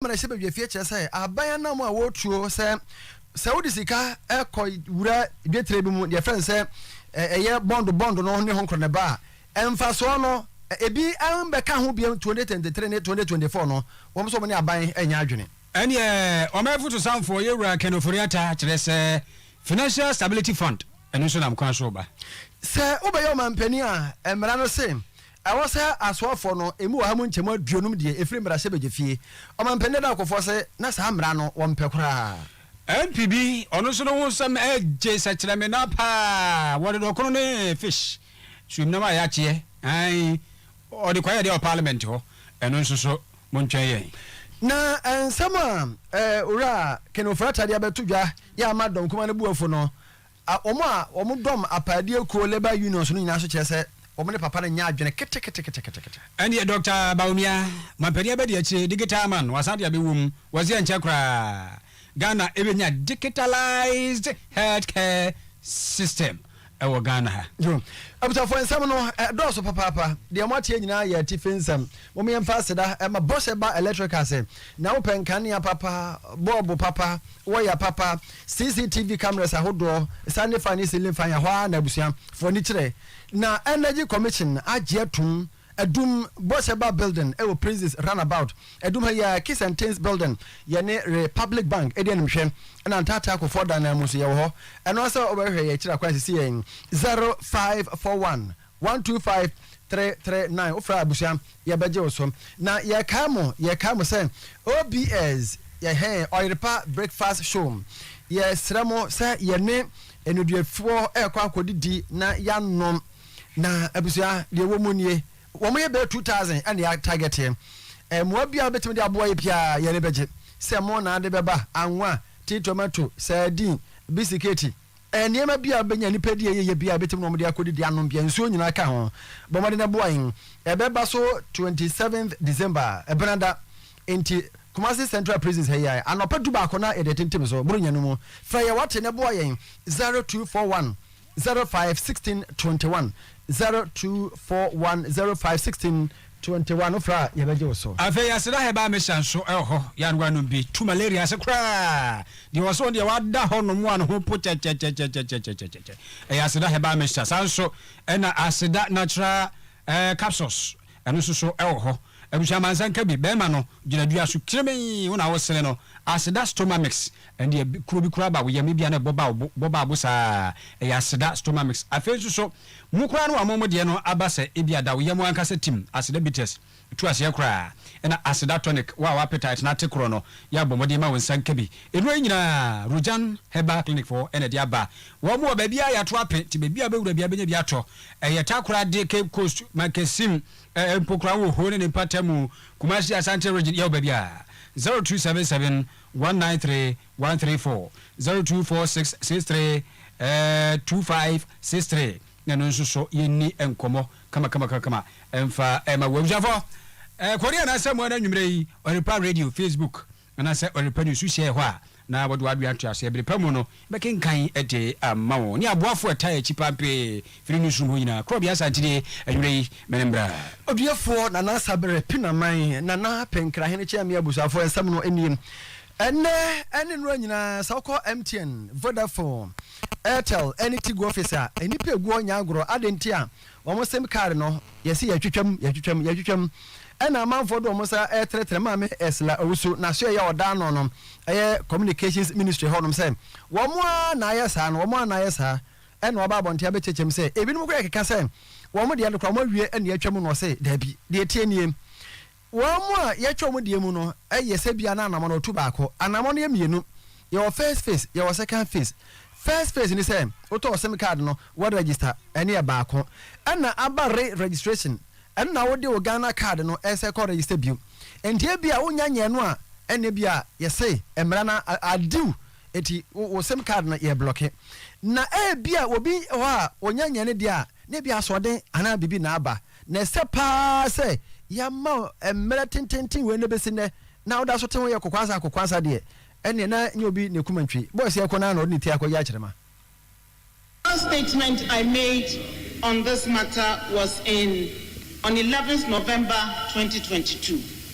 mmarahyɛ badwafie kyerɛ sɛ aban anam a wɔtuo sɛ sɛ wode sika kɔ wura dwetire bi mu deɛ fɛn sɛ ɛyɛ bɔndo bɔndo no ne ho nkorɔ ne ba a ɛmfasoɔ no ebi mbɛka ho biam 2023 ne 2024 no wɔn nso wɔn ne aban ɛnyɛ adwene. Ɛnneɛ ɔman afotusanfoɔ Yewura Ken Ofori-Atta kyerɛ sɛ Financial Stability Fund ɛno nso nam kwan so reba. Sɛ wobɛyɛ ɔmanpanin a mmara no se Ɛwɔ sɛ asoafoɔ no emu ɔha mu nkyɛmu aduonum deɛ ɛfiri mmarahyɛbadwafie. Ɔmampanin Dadaa Okofoɔ se na saa mmara no wɔmpɛ koraa. MP bi, ɔno nso ne ho nsɛm gye sɛkyerɛmena pa ara, wɔde no ɔkono ne fish, suomnam a yɛakyeɛ, aane, ɔde kwaeɛ deɛ wɔ parliament hɔ, ɛno nso so montwɛn yɛn. Na nsɛm a Owura Ken Ofori-Attaah de abɛto dwa yi ama dɔm kumaa no bo afu no, A Wɔn a wɔdɔm apaadeɛ kuo labour unions no nyinaa nso kyerɛ sɛ wɔn ne papa no nyɛ adwene keteketeketekete. Ɛndeɛ Dɔkta Bawumia, mampanin abɛdi akyire, digital man, wasan de abɛwɔ mu, wɔse ɛnkyɛ koraa Ghana bɛnya digitalised health care system wɔ Ghana ha. Yo. Abusuafoɔ, nsɛm no ɛdɔɔso papaapa. Deɛ moateɛ nyinaa yɛ atifi nsɛm. Mom yɛmfa aseda ɛma Bɔhyɛ ba Electrical sɛ, nea wopɛ, nkanea papa, bɔɔbo papa, wɔyɛ papa, CCTV cameras ahodoɔ, sane fan ne ceiling fan, ɛhɔ ara na abusua foɔ ani kyerɛ. Na Energy Commission agye atum, adum bɔhyɛ ba building ɛwɔ Princes run about, adum ha yi ara Kiss and Tins building, yɛne Republic Bank ɛdi anim hwɛ, ɛna Ntaate Akofoɔ dan no ara mu nso yɛwɔ hɔ. Ɛno ara sɛ wobɛhwehwɛ yɛn akyiri akwan sisi yɛn 0541. One two five three three nine wofra abusua yɛbɛgye wo so na yɛkae mo yɛkae mo sɛ OBS ɛhɛn ɔyerepa breakfast show yɛsrɛ mo sɛ yɛne nneduafoɔ ɛkɔ akɔdidi na yɛanom na abusua deɛ ɛwɔ mu nie wɔn yɛ bɛyɛ two thousand ɛna yɛ target yɛ mmoa biara wobɛtumi de aboa yɛ biara yɛn ani bɛgye sɛ mo na ade bɛba anwa tea tomato sardine bisiketi Nneɛma biara a wobenya, nnipa di a ɛyɛ yɛ biara a ebetumi ne wɔn de akodidi, anom biara, nsuo nyinaa ka ho. Bɔ mmɔden boa yɛn. Ɛbɛba so twenty seventh December, Ɛbenada. Enti, Kumasi Central Prisons ha yi ara, anɔpa dubaako na yɛde atintim so. Boro nya no mu. Frɛ yɛn wɔte na boa yɛn, zero two four one zero five sixteen twenty one, zero two four one zero five sixteen. To nte wa no frɛ a yɛbɛgye wo so. Afei yɛsera herbal mixture nso wɔ hɔ, yɛanoa nom bi tu malaria ase koraa. Deɛ ɔwɔ so no deɛ wada hɔ nom a ne ho po kyɛkyɛkyɛkyɛkyɛkyɛkyɛkyɛ ɛyɛ aseda herbal mixture. Saa nso na aseda natural eh, capsules ɛno nso so wɔ hɔ. Abusua mansa nka bi, bɛrima no gyina dua so kirimii wo na wo sene no, aseda stomamix ɛndeɛ kuro bi koraa ba wo yam ebia na ɛbɔ ba wo bo, bɔ ba wo bo saa ɛyɛ aseda stomamix. Afei nso so. Mo koraa no wɔama mo deɛ no aba sɛ ebia da wo yam ankasa tim aseda bitters tu aseɛ koraa ɛna aseda tonic wo a w'appetite no ate korɔ no yɛ abɔ mmɔden ma wo nsa nka bi Nnuro yi nyinaa Rujan Herbal Clinic foɔ na ɛde aba Wɔn wɔ baabiara a yɛato ape nti baabiara a wobɛwura biara wobɛnya bi atɔ Ɛyɛ Takoradi, Cape Coast, Mankasim, eh, Mpokura wɔ Ho ne ne mpatamu, Kumasi, Asante Region yɛwɔ baabiara 0277 193 one three four zero two four six six three ɛɛɛ two five six three na ɛno nso so yɛnni nkɔmmɔ kamakamakakama mfa ɛma wo abusuafoɔ. Ɛɛ Korea na asɛm ɛna anwummerɛ yi Ɔyɛrepa Radio Facebook anaasɛ Ɔyɛrepa News so hyɛ hɔ a na wɔde w'adwene ato aseɛ bere pa mu no bɛkenkan de ama wo ne aboafoɔ ɛtaa akyi pampee firi newsroom hɔ nyinaa korɔbea Asantenie anwummerɛ yi mene mmra. Odiefoɔ Nana Sabere Pinaman, Nana Penkrahenekyɛ me abusuafoɔ nsɛm no nie Ɛnnɛ ne nnora nyinaa, sɛ wokɔ MTN, Vodafone, Airtel ne Tigo office a, nnipa egu hɔ nyɛ agorɔ. Adɛn nti a? Wɔn sim card no, yɛse yɛtwitwam, yɛtwitwam, yɛtwitwam. Ɛna amanfoɔ de wɔn nsa retrɛtrɛ. Maame Ursula Owusu, n'asoɛyɛ a ɔda ano no yɛ Communications Ministry hɔnom sɛ wɔn ara na ayɛ saa no, wɔn ara na ayɛ saa. Ɛna waba abɔnten abɛkyerɛkyerɛ mu sɛ ebinom koraa keka sɛ wɔn deɛ no koraa wɔawie na yɛatwam no, ɔse daabi, deɛ ɛteɛ nie. Wɔn mu a yɛtwa wɔn deɛ mu no yɛ sɛ biara na anamɔn ɔtu baako. Anamɔn no yɛ mmienu. Yɛwɔ first phase, yɛwɔ second phase. First phase ne sɛ wotɔ wo sim card no, wo register, ɛno yɛ baako. Ɛna aba re registration, ɛno na wode wo Ghana card no ɛsɛ kɔ register bio. Nti ebia wonnya nyɛɛ no a, ɛna ebia yɛse mmra na adiw nti wo sim card no yɛ blɔke. Na ebia obi wɔ hɔ a ɔnya nyɛɛ no deɛ a, na ebia asoɔden anaa biribi na aba. Na ɛsɛ paa sɛ yɛama mmerɛ tententen wei na ɛbɛsi nnɛ na woda so te ho yɛ kokoansa kokoansa deɛ, ɛnneɛ na nyɛ obi na ɛkum antwi. Boys yɛ kɔ no ara na ɔde ne ti akɔyɛ akyerɛma. Last statement I made on this matter was in on eleventh November twenty twenty two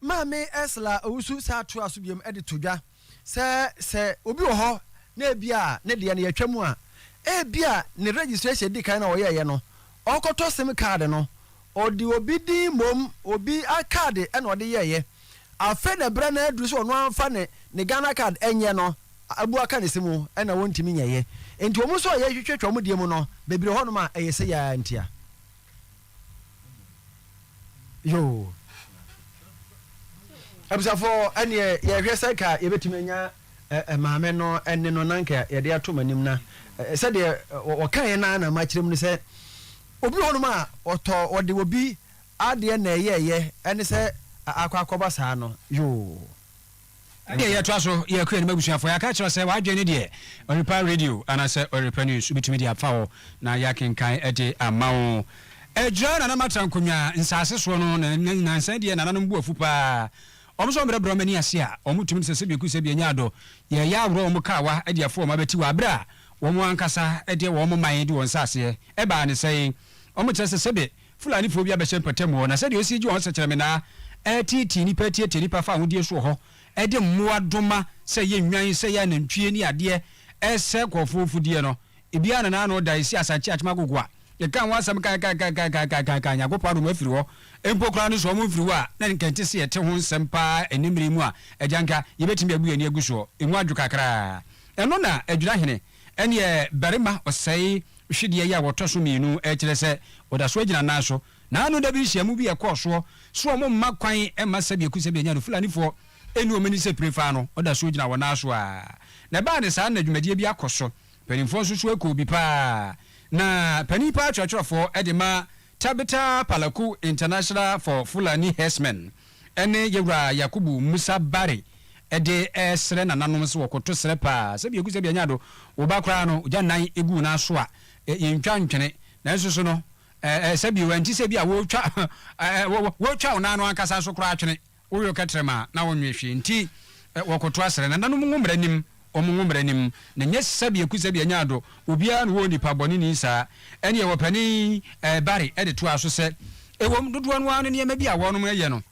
Maame Ursula Owusu san toaa so bio de to dwa sɛ, sɛ obi wɔ hɔ na ebia ne deɛ no yɛatwa mu a, ebia ne registration a ɛdi kan no a ɔyɛeɛ no, ɔkɔtɔ sim card no, ɔde obi din mmom, obi card na ɔde yɛeɛ. Afei na berɛ no ara aduru sɛ ɔno ara mfa ne ne Ghana card nyɛ no, abu aka ne se mu na wɔntumi nyɛeɛ. Enti wɔn nso a wɔhwehwɛ twa wɔn deɛ mu no, bebree wɔ hɔnom a ɛyɛ sɛ yɛn ara ntia. yoo abusuafo ɛneɛ yɛhwɛ sɛ ka yɛbɛtumi anya maame no ɛne no na nka yɛde ato m'anim na sɛdeɛ wɔkaeɛ no na makyerɛ mu no sɛ obi hɔ nom a ɔtɔ ɔde obi adeɛ na ɛyɛɛyɛ ɛne sɛ akɔ akɔba saa no yoo Ɛnneɛ yɛtoa so yɛ kɔ yɛnim abusuafoɔ. Yɛaka akyerɛ wo sɛ w'adwene no deɛ ɔrepa radio anaasɛ ɔrepa news wobɛtumi de afa hɔ na yɛakenkan de ama wo. Agyira Nana Matra Nkonwa nsaase soɔ no na na nansa yi deɛ nananom bo afu pa ara. Wɔn nso wɔbrɛbrɛ wɔn ani ase a wɔtumi no sɛ sɛbi ɛku sɛbi ɛnyɛ adɔ. Yɛreyɛ aworɔ wɔn kaawa de afa wɔn abati wɔ aberɛ a wɔn ankasa de wɔn man de wɔn nsaaseɛ ɛbaa no sɛe. Wɔkyerɛ sɛ sɛbi Fulanifoɔ bi abɛhyɛ mpɔtam hɔ, na sɛdeɛ ɔsi gye wɔn sɛkyerɛme naa ɛreteetee nnipa atiatia nnipa fa ahodeɛ soɔ hɔ de mmoa doma sɛ yɛ nnwan, sɛ yɛ anantwie ne adeɛ ɛresɛe nkorɔfoɔ mfudeɛ no, ebiara na n'ano da ɛsi Asankye Akyem Agogo a yɛkaa ho asɛm kaakaakaakaakaakaakaaka Nyankopɔn adom afiri hɔ mpo koraa no sɛ wɔn mfiri hɔ a na nka ɛnte sɛ yɛte ho nsɛm paa ɛnnɛ mmerɛ yi mu a agya nka yɛbɛtumi abu yɛn ani agu soɔ, ɛmu adwo kakra ɛno na Adwinahene. Ɛnneɛ barima ɔsɛe hwedeɛ yi a ɔtɔ so mmienu kyerɛ sɛ ɔda so agyina nan so. Na ano da bi nhyiamu bi a ɛkɔɔ soɔ so a wɔmma kwan mma sɛdeɛ kusɛm yɛnya no Fulanifoɔ nni wɔn ani sɛ pire faa no, ɔda so gyina wɔn nan so a na ɛbaa no saa no na dwumadie bi akɔ so. Mpanimfoɔ nso so kɔɔ bi paa na panin paa twerɛtwerɛfoɔ de ma Tabitha Palaku International for Fulani Herdsmen ne Yewura Yakubu Musa Barry de resrɛ nananom sɛ wɔkoto serɛ paa sɛ biaku sɛ bianya do wo ba koraa no ogya nan gu wo nan so a yentwa ntwene nanso so no sɛ bio ɛnte sɛ bi a wotwa wotwa wo nan no ankasa so koraa twene Woyɔ kɛtrɛma a na wonwe hwee nti wɔkoto asrɛ na nanom ngo mmra nim wɔn ngo mmra nim na nyɛ sɛbi aku sɛbi anya ado obiara na wɔ onipa bɔne ni saa ɛneɛ wɔpanin ɛɛ Barry ɛde toaa so sɛ ɛwom dodoɔ no ara no nneɛma bi a wɔnom ɛyɛ no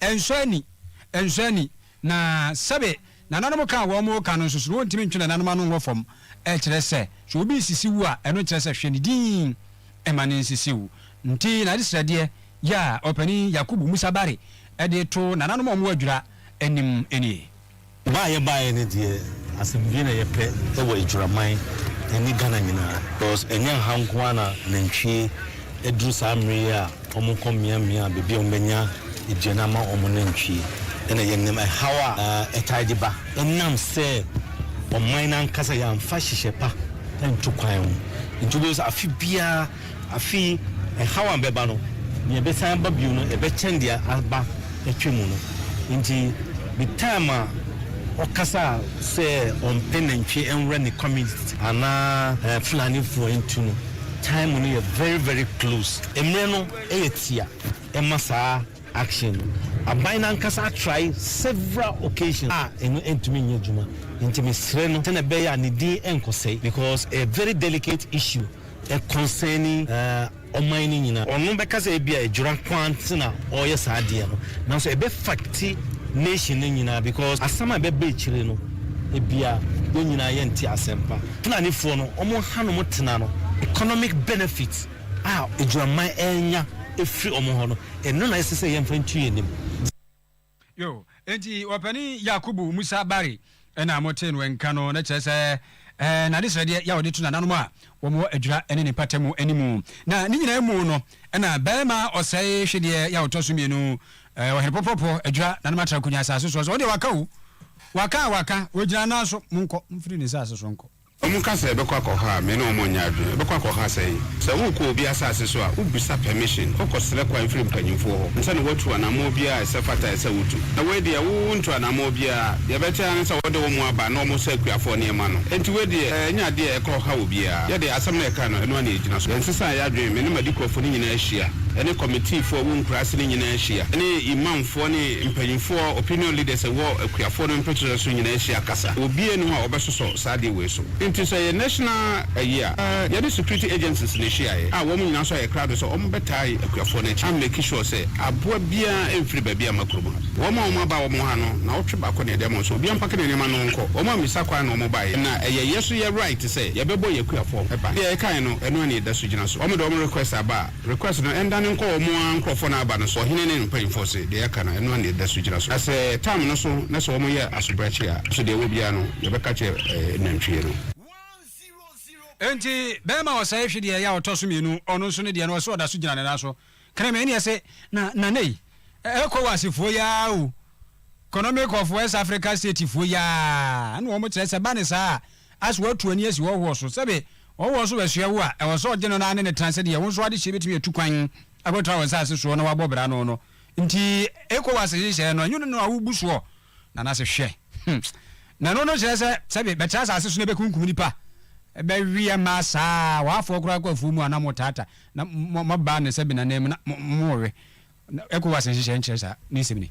ɛnsɔ ani ɛnsɔ ani na sɛbe Nananom ka a wɔka no nso so no, wontumi ntwe nananom ano nwɔ fam. Ɛkyerɛ sɛ, sɛ obi nsisi wo a, ɛno nkyerɛ sɛ hwɛ ne din mma no nsisi wo. Nti, n'adesrɛdeɛ yi a Ɔpanin Yakubu Musa Barry de to nananom a wɔadwira anim nie. Ba a yɛbaeɛ no deɛ asɛm bie na yɛpɛ wɔ adwiraman ne Ghana nyinaa. Because ɛnyɛ ha nko ara na nantwie aduru saa mmere yi a. Wɔkɔ miamia beebi a wɔbɛnya aduan ama wɔn nantwi. Ɛna ɛyɛ nnam ɛhaw a ɛtaa de ba ɛnam sɛ ɔman no ankasa yɛamfa nhyehyɛ pa antu kwan ho. Nti wobɛhu sɛ afe biara, afe yi ɛhaw a ɛbɛba no, nea ɛbɛsan aba bio no ɛbɛkyɛn deɛ aba atwa mu no. Nti the time a ɔkasa sɛ ɔmpɛ nantwie nwura ne community anaa Fulanifoɔ ntu no, time no yɛ very very close. Mmerɛ no yɛ tia ma saa action no. Aban no ankasa atrae several occasions a ɛno antumi nyɛ adwuma. Nti mesrɛ no sɛdeɛ ɛbɛyɛ a ne din nkɔsɛe because ɛyɛ very delicate issue concerning ɔman no nyinaa. Ɔno bɛka sɛ ebia adwera nko ara nti na ɔreyɛ saa adeɛ no nanso ɛbɛ affect nation no nyinaa because asɛm a ɛbɛba akyire no ebia yɛn nyinaa yɛnte asɛm pa. Fulanifoɔ no wɔhanom tena no economic benefit a Adwamman renya afiri wɔn hɔ no, ɛno na ɛsɛ sɛ yɛmfa ntu yɛn anim. Yo, enti Ɔpanin Yakubu Musa Barry na motee no nka no, na kyerɛ sɛ, ɛɛ, n'adesrɛdeɛ yɛ a ɔde to nananom a wɔwɔ adwira ne ne mpata mu anim. Na ne nyinaa mu no, ɛna barima ɔsɛe hwedeɛ yɛ a ɔtɔ so mmienu, ɛɛ, Ɔhene Pɔpɔpɔ adwira nanom atra Konya asase soɔ sɛ, Ɔdeɛ waka o, waka a waka, ɔgyina nan so, monkɔ, momfiri ne nsase so nkɔ. Wɔka sɛ ɛbɛkɔ akɔ hɔ a, me ne wɔn nyɛ adwene. Ɛbɛkɔ akɔ hɔ asɛn? Sɛ worekɔ obi asase so a, wobisa permission, wokɔ srɛ kwan firi mpanyinfoɔ hɔ ansa na woatu anamɔɔ biara a ɛsɛ fata ɛsɛ wotu. Na wei deɛ wo ntu anamɔɔ biara, deɛ ɛbɛte ara ne sɛ wɔde wɔn aba na wɔsa akuafoɔ nneɛma no. Ɛnti wei deɛ ɛnyɛ adeɛ a ɛkɔ ha obiara. Yɛ deɛ asɛm no ɛka no, ɛno ara na ɛgyina so. Yɛnsesa yɛ adwene, me ne m'adikuafoɔ no nyinaa hyia, ɛne kɔmitiifoɔ a ɛwɔ nkura ase no nyinaa hyia, ɛne imamfoɔ ne mpanyinfoɔ, opinion leaders, a ɛwɔ akuafoɔ no mpekyerɛ so nyinaa hyia kasa. Obiara nni hɔ a wɔbɛsosɔ saa adeɛ wei so. Nti sɛ ɛyɛ national ayi a, yɛne security agencies na ɛhyiaeɛ a wɔn nyinaa nso ayɛ krado sɛ wɔn bɛtae akuafoɔ no akyi a make sure sɛ aboa biara mfiri baabi a mma kurom ha. Wɔn a wɔn aba wɔn ha no, nawɔtwe baako na yɛde ama wɔn sɛ obiara mpake ne nneɛma na ɔnkɔ. Wɔn ammisa kwan na wɔn baeɛ na ɛyɛ yɛ nso yɛ right sɛ yɛbɛbɔ yɛn akuafoɔ ban. Deɛ yɛkaeɛ no, ɛno ara na yɛda so gyina so. Wɔn de wɔn request aba a. Request no ɛndane nkɔ wɔn ara nkorɔfoɔ no aba no so. Ɔhene ne ne mpaninfoɔ se, deɛ yɛaka no, ɛno ara na ɛda so gyina so. Na sɛ time no so na sɛ wɔn yɛ asobrakye a, nso deɛ ɛwɔ biara no, yɛbɛka akyerɛ nantwie no. Enti bɛrima ɔsɛe hwe deɛ ɛyɛ a ɔtɔ so mmienu, ɔno nso ne deɛ no, ɔse ɔda so gyina ne nan so. Kreme ne ɛse, na nnane yi, Ecowas foɔ yi ara o, Economic of West Africa State foɔ yi ara, ɛna wɔn kyerɛ sɛ ɛba ne saa a, As watu ani asi hɔhoɔ so, sɛbe hɔhoɔ nso bɛsoɛ wo a, ɛwɔ sɛ ɔgye no na ne no tena sɛdeɛ wo nso adehyeɛ bɛtumi atu kwan akɔtra wo nsase soɔ na woabɔ bra no no. Nti Ecowas nhyehyɛeɛ no, ɛnyɛ ɔno na wobu soɔ? Nanase hwɛ hmm. Na ɛno no kyerɛ sɛ sɛbe bɛtra asase so na bɛkunkum nipa? Bɛweɛ mmaa saa a, wɔafoɔ koraa kɔ afuo mu a na motaata na moba ne sɛbe nananmu na mowe. Na Ecowas nhyehyɛɛ nkyerɛ saa. Ne nsɛm ni.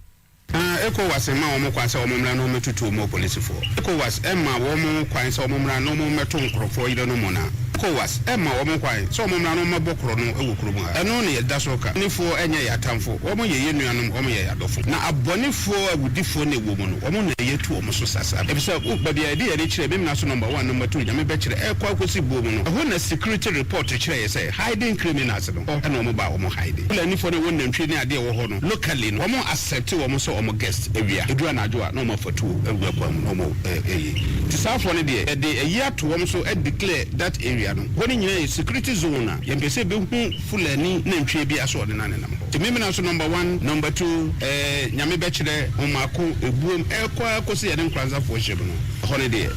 Na Ecowas mma wɔn kwan sɛ wɔmmra na wɔmmɛtutu wɔn apolisifoɔ. Ecowas mma wɔn kwan sɛ wɔmmra na wɔmmɛto nkorɔfoɔ yerenom na Ecowas mma wɔn kwan sɛ wɔmmra na wɔmmɛbɔ korɔno wɔ kurom ha. Ɛno na yɛda so reka. Abɔnefoɔ nyɛ yɛn atamfo. Wɔn yɛ yɛn nuanom, wɔn yɛ yɛn adɔfo. Na abɔnefoɔ, awudifoɔ na ɛwɔ mu no, wɔn na yɛatu wɔn so sasa. Efisɛ, oh, baabi a yɛde yɛn ani kyerɛ, Memena so Number One, Number Two, Nyame bɛkyerɛ, ɛrekɔ akɔsi buo mu no, ɛhɔ na security report kyerɛeɛ sɛ, Hidden criminals no hɔ na wɔn baa wɔn hiding. Fulani foɔ no a ɛwɔ nantwie ne adeɛ ɛwɔ hɔ no locally no wɔn accept wɔn sɛ wɔn guest awia ɛduru anadwo a na wɔn afa tuo awura kwan mu na wɔn ɛɛyɛ nti saa foɔ no deɛ yɛde ayi ato wɔn so ɛ declare that area no hɔ no nyinaa yɛ security zone a yɛmpɛ sɛ yɛbɛhu Fulani nantwie biara sɛ ɔde no anenam hɔ nti Memena so number one number two ɛɛ Nyame bɛkyerɛ wɔn mako ɛbuom ɛɛkɔ ara kɔsi yɛne Nkoranza foɔ hyɛm no hɔ no deɛ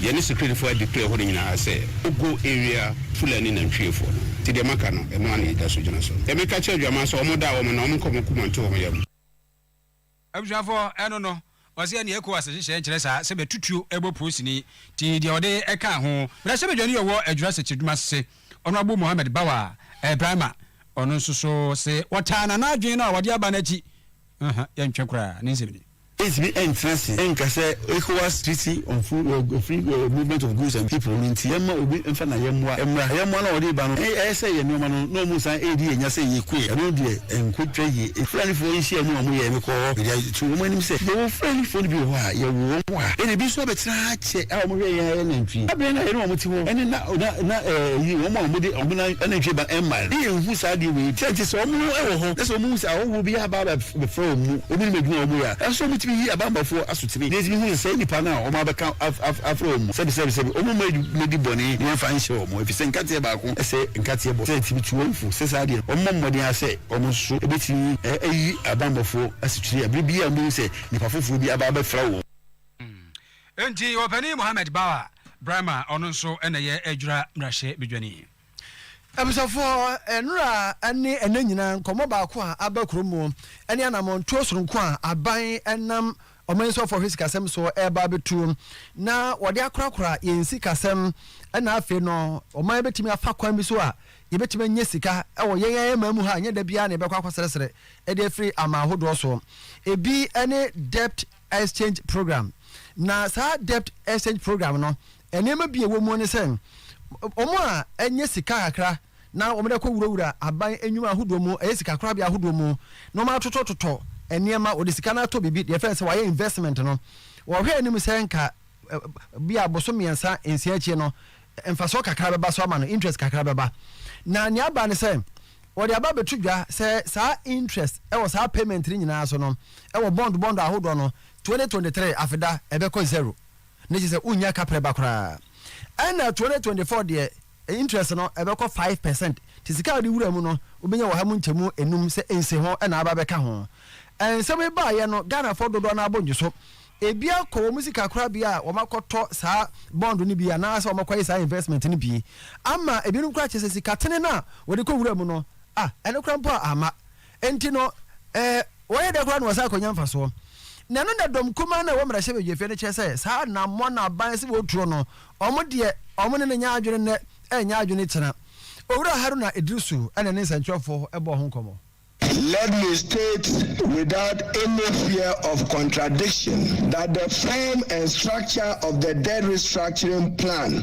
yɛne security foɔ a declare hɔ no nyinaa sɛ no go area. Fulani nantwiefoɔ no, nti deɛ maka no, ɛno ara na yɛda so gyina so. Deɛ meka kyerɛ adwaman sɛ wɔn da wɔn na wɔn nkɔ wɔn akoma nto wɔn yam. Abusuafoɔ, ɛno no, wɔse ɛneɛ Ecowas nhyehyɛɛ nkyerɛ saa sɛ bɛtu tuo bɔ polisini, nti deɛ wɔde ɛkaa ho. Mmarahyɛbadwani a ɔwɔ Adwira Sekyiredwuma ase, Honourable Mohammed Bawa Ibrahima, ɔno nso so se wɔtaa no, na adwene no a wɔde aba no akyi, yɛntwe koraa, ne nsɛm nie. Yentumi ntena ase nka sɛ Ecowas Treaty on Free Movement of Goods and People no nti yɛmma obi mfa n'ayɛmmoa mmra. Ayɛmmoa no a wɔde reba no, ɛyɛ sɛ yɛn nneɛma no na wɔsan redi yɛn nya sɛ yekoe. Ɛno deɛ, ɛnkɔtwa yie. Mfranifoɔ nhyiamu a wɔyɛe no kɔɔ hɔ de ato wɔn anim sɛ, Yɛwɔ mfranifoɔ no bi wɔ hɔ a, yɛwo wɔn wɔ ha. Ɛnna ebi nso abɛtena ha kyɛ a wɔhwɛ yɛn ayɛ nantwie. Da bɛn na yɛne wɔn te hɔ ne na, na, na, eyi, wɔn a wɔde wɔn anantwie ba mmae no? Ne yɛnhu saa adeɛ wei bi. Sɛ enti, sɛ wɔn wɔ hɔ na sɛ wɔhu sɛ ahɔhoɔ bi aba abɛ. bɛfra wɔn mu, wɔnim adwuma a wɔyɛ a ɛsɛ sɛ wɔtumi yi abanbɔfoɔ asotene, na yɛtumi hu sɛ saa nnipa no a wɔabɛka afra wɔn mu sɛbesɛbesɛbe, wɔmma mmɛdi bɔne na yɛmfa nhyɛ wɔn, ɛfiri sɛ nkateɛ baako sɛ nkateɛ bɔ, sɛ ɛtumi tu wɔn fo, sɛ saa deɛ wɔmmɔ mmɔden ara sɛ wɔn nso bɛtumi ayi abanbɔfoɔ asotene a berɛ biara a wɔbɛhu sɛ nnipa foforɔ bi aba abɛfra wɔn. Enti Ɔpanin Mohammed Bawa Brahma a ɔno nso na ɛyɛ Adwira Mmarahyɛ Badwani. Abusuafoɔ, nnora ne ɛnnɛ nyinaa nkɔmmɔ baako a aba kurom mu ne anamɔntuo sononko a aban nam Ɔman Suafoɔ Hwɛ Sikasɛm so reba abɛtu na wɔde akorakora yɛn sikasɛm na afei no ɔman bɛtumi afa kwan bi so a yɛbɛtumi anya sika wɔ yɛn ara man mu ha nyɛ da biara na yɛbɛkɔ akɔsrɛsrɛ de afiri aman ahodoɔ so. Ebi ne Debt Exchange Program na saa Debt Exchange Program no Nneɛma bi a ɛwɔ mu ne sɛ, wɔn a anya sika kakra na wɔde akɔwurawura aban nnwuma ahodoɔ mu, ɛyɛ sikakorabea ahodoɔ mu, na wɔatotɔtotɔ nneɛma, wɔde sika no atɔ biribi, deɛ ɛfrɛ no sɛ wɔayɛ investment no, wɔhwɛ anim sɛ nka bia bosome mmiɛnsa, nsia akyire no, mfasoɔ kakra bɛba so ama no, interest kakra bɛba. Na nea aba ne sɛ, wɔde aba abɛto dwa sɛ saa interest wɔ saa payment no nyinaa so no, wɔ bond bond ahodoɔ no, 2023 afeda ɛbɛkɔ zero. na kyerɛ sɛ wonnya kaprɛ ba koraa. Ɛna 2024 deɛ interest no ɛbɛkɔ five percent nti sika a wode wura mu no wobɛnya wɔ ha mu nkyɛmu nnum sɛ nsiho na aba abɛka ho. Nsɛm yi baeɛ no Ghanafoɔ dodoɔ no ara bo nnye so. Ebi akɔ wɔn sika korabea a wɔakɔtɔ saa bond no bi anaasɛ wɔakɔyɛ saa investment no bi ama ebinom koraa kyerɛ sɛ sikatene no a wɔde kɔwura mu no ah ɛno koraa mpo a amma Enti no, eh, wɔyɛ dɛn koraa na wɔsan kɔnya mfasoɔ? Na ɛno na dɔm kumaa no a ɛwɔ mmarahyɛbadwafie no kyerɛ sɛ saa anammɔn a aban se wɔturo no, wɔn deɛ, wɔn ne no nyɛ adwene nnɛ, ɛrenyɛ adwene kyena. Owura Haruna Iddrisu na ɛne nsɛnkyerɛwfoɔ bɔɔ ho nkɔmmɔ. Let me state without any fear of contradiction that the form and structure of the debt restructuring plan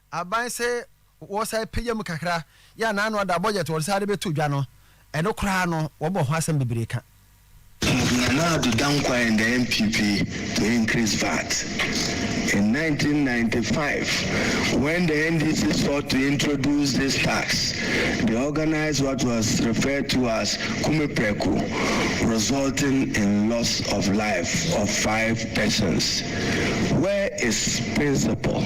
aban sɛ wɔsan pagya mu kakra yɛ a n'ano ada a budget a wɔde san de bɛto dwa no, ɛno koraa no wɔbɔ ho asɛm bebree ka. Nana Addo Dankwa and the NPP to increase VAT in nineteen ninety five when the NDC sought to introduce this tax they organised what was referred to as Kumeprɛko resulting in loss of life of five persons where is principle.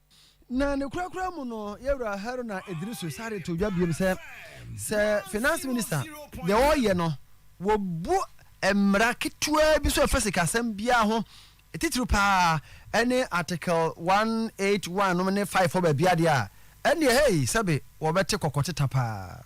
Na ne korakora mu no, yɛn wura Haruna Iddrisu sare too dwa biom sɛ, sɛ Finance Minister deɛ ɔreyɛ no, wɔbu mmara ketewaa bi so a ɛfa sikasɛm biara ho, titiriw pa ara ne Article 181 nom ne 5 hɔ baabiara deɛ a, ɛnneɛ, hei, sɛbe wɔbɛte kɔkɔteta pa ara.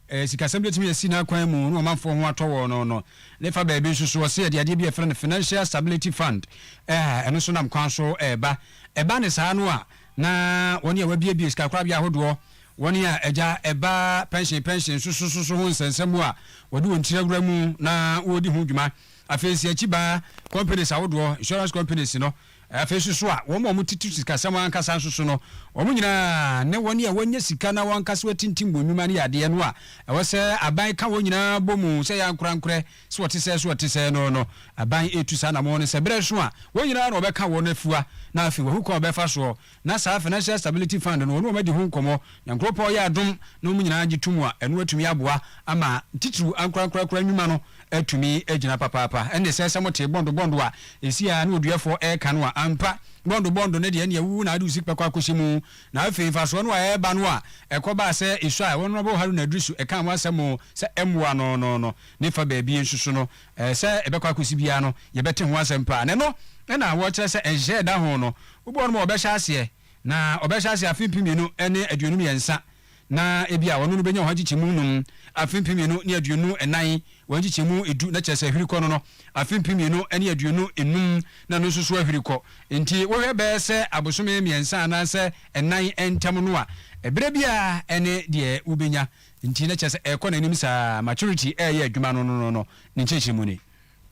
Ɛɛ sikasɛm betumi asi n'akwan mu na ɔmanfoɔ ho atɔ wɔn no no. Ne fa baabi nso so, ɔse yɛde adeɛ bi a yɛfrɛ no Financial Stability Fund a ɛno nso nam kwan so reba. Ɛba ne saa no a, na wɔn a wɔabuebue sikakorabea ahodoɔ, wɔn a agya ɛba pɛnhyen pɛnhyen nso so nso so ho nsɛnsɛm a wɔde wɔn tiri awura mu na wɔredi ho dwuma. Afei nso akyi baa companies ahodoɔ, insurance companies no, Afei nso so a, wɔn a wɔtete sikasɛm ankasa nso so no, wɔn nyinaa ne wɔn a wɔnyɛ sika na wɔn ankasa wɔatintim wɔn nnwuma no yɛ adeɛ no a, ɛwɔ sɛ aban ka wɔn nyinaa bɔ mu sɛ yɛ ankorankorɛ sɛ ɔte sɛɛ sɛ ɔte sɛɛ no no, aban retu saa anammɔn no sɛ berɛ reso a, wɔn nyinaa na wɔbɛka wɔn afua na afei wɔahu kwan a wɔbɛfa soɔ na saa Financial Stability Fund no wɔne wɔn adi ho nkɔmmɔ, na nkurow pa a ɔyɛ adom na wɔn nyinaa gye tom a, ɛno atumi aboa ama titiriw ankorankorankora nnwuma no atumi agyina papaapa. Ɛnde sɛ sɛ motee bɔndo bɔndo a ɛsi a na ɔduɛfoɔ reka no a, ampa, bɔndo bɔndo no deɛ ɛnde awuwu na ade osik bɛkɔ akɔhyɛ mu. Na afei mfasoɔ no a ɛreba no a ɛkɔbaa sɛ Iswael, Honourable Haruna Drisu, ɛkaa ho asɛm sɛ ɛmmoa no no no ne fa baabi nso so no, Ɛɛ, sɛ ɛbɛkɔ akɔsi biara no, yɛbɛte ho asɛm paa. Na ɛno na wɔkyerɛ sɛ nhyɛ da ho no, wobi wɔ hɔ nom a ɔbɛhyɛ aseɛ, na ɔbɛhyɛ aseɛ afe mpem mmienu ne aduonu mmiɛnsa, na ebia ɔno no bɛnya ɔha nkyekyɛmu nnum, afe mpem mmienu ne aduonu nnan, ɔha nkyekyɛmu du, na kyerɛ sɛ ahwiri kɔ no no, afe mpem mmienu ne aduonu nnum na ɛno nso so ahwiri kɔ. Nti wohwɛ bɛyɛ sɛ abosome mmiɛnsa anaasɛ nnan ntam no a, ɛberɛ biara ne deɛ wobɛnya. Nti na kyerɛ sɛ ɛrekɔ n'anim saa ara. Maturity reyɛ adwuma no no no no ne nkyerɛkyerɛmu ni.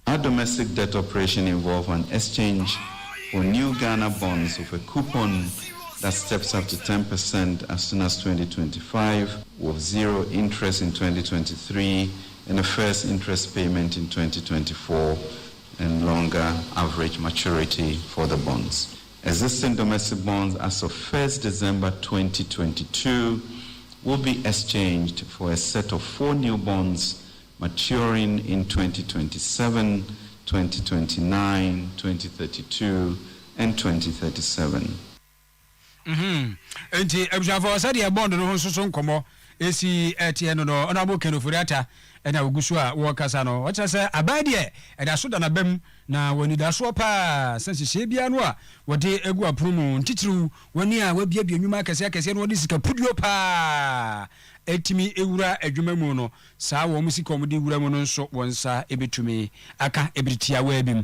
A domestic debt operation involve an exchange for new Ghana bonds with a coupon that steps up to ten per cent as soon as twenty twenty five, with zero interest in twenty twenty three and a first interest payment in twenty twenty four and longer average maturity for the bonds. Existing domestic bonds as of first December twenty twenty two will be exchanged for a set of four new bonds maturing in twenty twenty seven, twenty twenty nine, twenty thirty two and twenty thirty seven. Enti abusuafoɔ sɛdeɛ bond no ho nso so nkɔmmɔ esi teɛ no no, ɔno a wɔka no Furiata na ogu so a ɔrekasa no, ɔkyerɛ sɛ aban deɛ ɛda so da n'abam na wɔ anidasoɔ pa ara sɛ nhyehyɛeɛ biara no a wɔde agu apono mu, ntitiriw wɔn a wɔabuebue nnwuma akɛseɛ akɛseɛ na wɔde sika puduo pa ara atumi awura adwuma mu no, saa wɔn sika a wɔde wura mu no nso wɔn nsa bɛtumi aka bere tiawaa bi mu.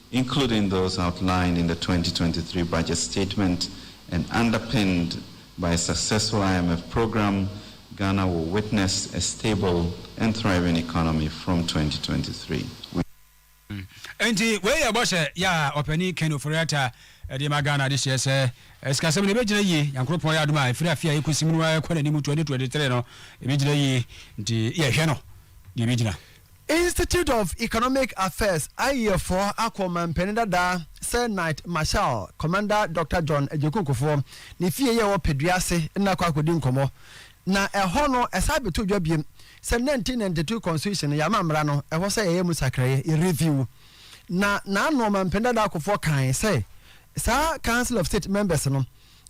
including those outlined in the twenty twenty three budget statement and underpinned by a successful IMF programme, Ghana will witness a stable and thriving economy from twenty twenty three. We. Enti wei yɛ bɔhyɛ yɛ a ɔpanin Ken Ofori-Atta de ma Ghana de hyɛ sɛ sikasɛm no ɛbɛgyina yie, Nyankoropɔn yɛ adom a ɛfiri afe a ɛkɔsi mu no ara ɛkɔ n'anim twenty twenty three no ɛbɛgyina yie nti yɛhwɛ no deɛ ɛbɛgyina. Institute of Economic Affairs ayɛfoɔ akɔ manpanin dada Sir Knight Marshal Commander Doctor John Agyeku Okofoɔ ne fie yɛ wɔ Padua ase na akɔ akɔdi nkɔmmɔ. Na ɛhɔ no ɛsan abɛto dwa biom sɛ nineteen ninety two Constitution no yɛama mmara no ɛhɔ sɛ yɛyɛ mu sakraeɛ, yɛ review. Na n'ano Ɔmanpanin dada Okofoɔ kaeɛ sɛ saa Council of State members no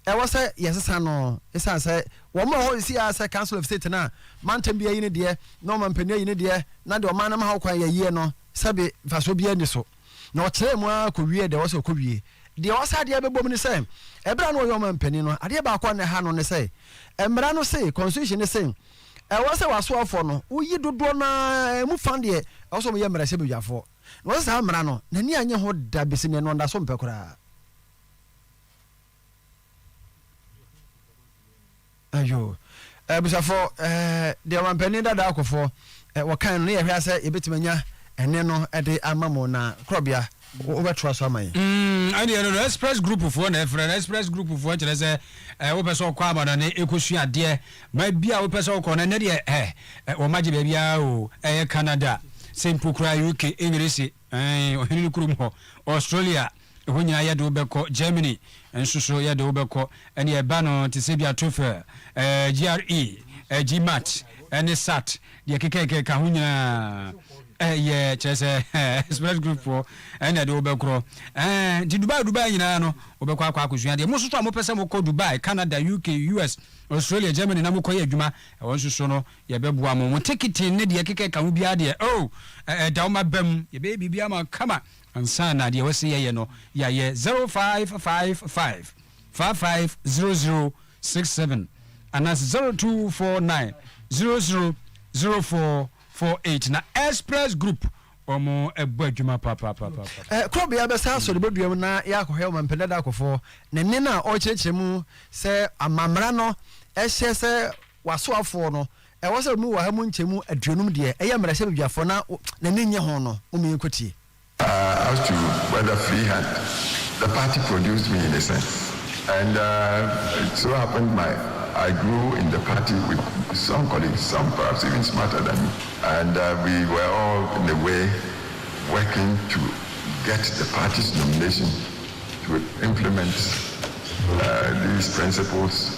ɛwɔ sɛ yɛsesa no ɛsiane sɛ wɔn wɔ hɔ sisi ara sɛ council of state no a mantam bi ayi ne deɛ na ɔman panin ayi ne deɛ na deɛ ɔman no ma ho kwan yɛyie no sɛbe mfasoɔ biara nni so na ɔkyerɛɛ mu ara kɔwie deɛ ɛwɔ sɛ ɔkɔwie deɛ ɛwɔ sɛ adeɛ bɛbɔ mu ne sɛ ɛberɛ a na ɔyɛ ɔman panin no adeɛ baako a na ɛha no ne sɛ mmara no se constitution no se ɛwɔ sɛ w'asoafoɔ no woyi dodoɔ no ara ɛmu fa deɛ ɛwɔ sɛ wɔyɛ mmarahyɛbadwafoɔ na ɔsɛ saa mmara no n'ani annye ho da bɛsi nnɛ no ɔnda so mpɛ koraa ayo abusafo deɛ wampanin dada akɔfo wɔkan no ne yɛhwɛ sɛ yɛbɛtumi anya ɛne no de ama mo na korɔbea wobɛtoa so ama yɛn mm, ɛdeɛ no no express group foɔ na ɛfrɛ no express group foɔ kyerɛ sɛ wopɛ sɛ ɔkɔ amanane ɛkɔsua adeɛ ma bi a wopɛ sɛ wokɔ no ɛnɛ deɛ wɔmagye baabiaa o ɛyɛ canada sɛ mpo koraa uk english Aane, ɔhene no kurom hɔ, Australia, ɛhɔ nyinaa yɛde wo bɛkɔ, Germany nso so yɛde wo bɛkɔ, ɛnneɛ ɛba no te sɛ dua TOEFL, GRE, GMAT, ne SAT, deɛ ɛkekakeka ka ho nyinaa yɛ, kyerɛ sɛ express group foɔ na ɛde wo bɛkorɔ, nti Dubai Dubai nyinaa no wobɛkɔ akɔ akɔsua adeɛ, mo nso so a mopɛ sɛ mokɔ Dubai, Canada, UK, US, Australia, Germany na mokɔyɛ adwuma, ɛhɔ nso so no Yɛbɛboa mo. Mo tekete ne deɛ ɛkeka ɛka ho biara deɛ, oh, ɛ, ɛda wo mma bam. Yɛbɛyɛ biribiara ama wo kama ansa na deɛ wɔse yɛyɛ no, yɛayɛ. Zero five five five, five five zero zero six seven anaasɛ zero two four nine, zero zero zero four four eight. Na Express Group, wɔabɔ adwuma papaapapa. Ɛ, koro bea bɛsa asɔ ne bodua mu na yɛakɔhwɛ Ɔmampanin Dada Akofoɔ, ne nne no a ɔrekyerɛkyerɛ mu sɛ ama mmara no hyɛ sɛ W'asoafoɔ no, ɛwɔ sɛ wɔmu wɔ ha mu nkyɛmu aduonum deɛ ɛyɛ mmerɛ sɛ badwafoɔ na n'ani nnye ho no, momma yɛnkɔtie. Uh as to whether free hand the party produced me in a sense and uh it so happened my I grew in the party with some colleagues some perhaps even smarter than me and uh we were all in a way working to get the party's nomination to implement uh these principles.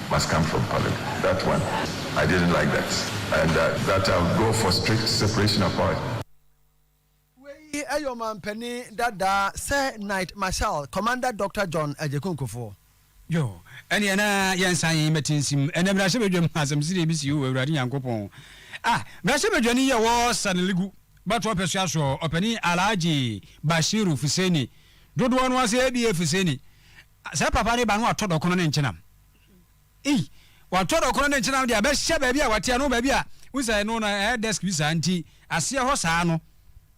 must come from parliament that one I didn't like that and that I would go for strict separation of powers. Wei yɛ ɔmanpanin dada sɛ Knight Marshal Commander Doctor John Agyeku Nkofoɔ. Yo, ɛneɛ na yɛnsan mmɛte nsim. Ɛnɛ mmrahyɛbadwam asɛmsede bi sii o, Awurade Nyankopɔn. Ah, mmrahyɛbadwani yi ɛwɔ Sanaligu bɛto ɔpɛsoa so, ɔpanin Alhaji Bashiru Fuseni, dodoɔ no ara sɛ ABA Fuseni, Sɛ papa reba na watɔ dɔkono ne nkyenam. Ei! Watɔ dɔkono ne nkyenam de abɛhyɛ baabi a wate ano, baabi a wohu sɛ ɛno no ɛyɛ desk bi saa nti aseɛ hɔ saa no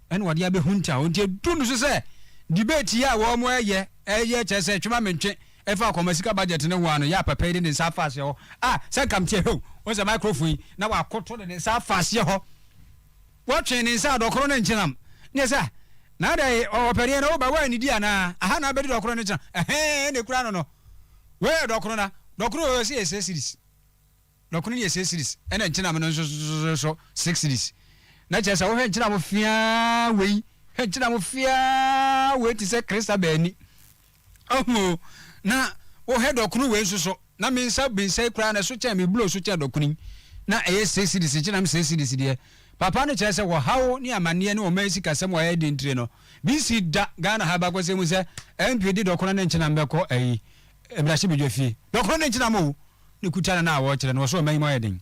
ɛna ɔde abɛhunta hɔ. Nti ɛduru no so sɛ debate yi a wɔreyɛ ɛyɛ kyerɛ sɛ twe ma mentwe ɛfa akwamasika budget no ho a no yɛ a papa yi de ne nsa afa aseɛ hɔ. Ah! Sɛ nka meteɛ, hɛw! Wohu sɛ microphone yi na wakoto de ne nsa afa aseɛ hɔ. Wɔtwee ne nsa a dɔkoro no nkyenam. Neɛ sɛ, na adɛn, ɔ, ɔpɛdeɛ no, woba, woannidi anaa? Aha na abɛdi dɔkoro no nkyenam. Ɛhɛɛ, ɛna ɛkura no no. Wei yɛ dɔkoro na, dɔkoro wei ɔse yɛ six cedis. Dɔkoro no yɛ six cedis, ɛna nkyenam no nso so six cedis. Na kyerɛ sɛ, wohwɛ nkyenam feaa wei, hwɛ nkyenam feaa wei te sɛ Christabel ani. Ahu o, na wo hɛ dɔkono wei nso so, na me nsa bensɛ yi koraa na ɛso kyɛn me blo so kyɛn dɔkono yi, na ɛyɛ six cedis nkyɛ na me six cedis deɛ. Papa no kyerɛ sɛ ɔhaw ne amaneɛ ne ɔman sikasɛm a ɛyɛ den ntire no, me nsi da Ghana ha abakɔsɛm mu sɛ MP de dɔkono no nkyenam bɛkɔ ayi, mmarahyɛbadwa fie. Dɔkono no nkyenam o, ne kuta no na a wɔkyerɛ no wɔ so ɔman yi mu ayɛ den.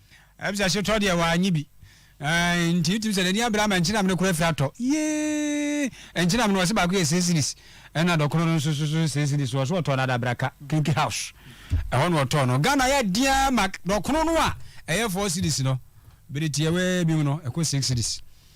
Ebisa sotɔ deɛ w'anyi bi Ɛɛn nti wotim sɛ n'ani abere ama nkyenam no koro afiri atɔ Yeeee nkyenam no ɔse baako yɛ six cedis Ɛna dɔkono no nso so so six cedis Ɔse ɔtɔɔ no Adabraka Kinky house Ɛhɔ na ɔtɔɔ no Ghana ayɛ den ara ma dɔkono no a ɛyɛ four cedis no Bere tiawaa bi mu no ɛkɔ six cedis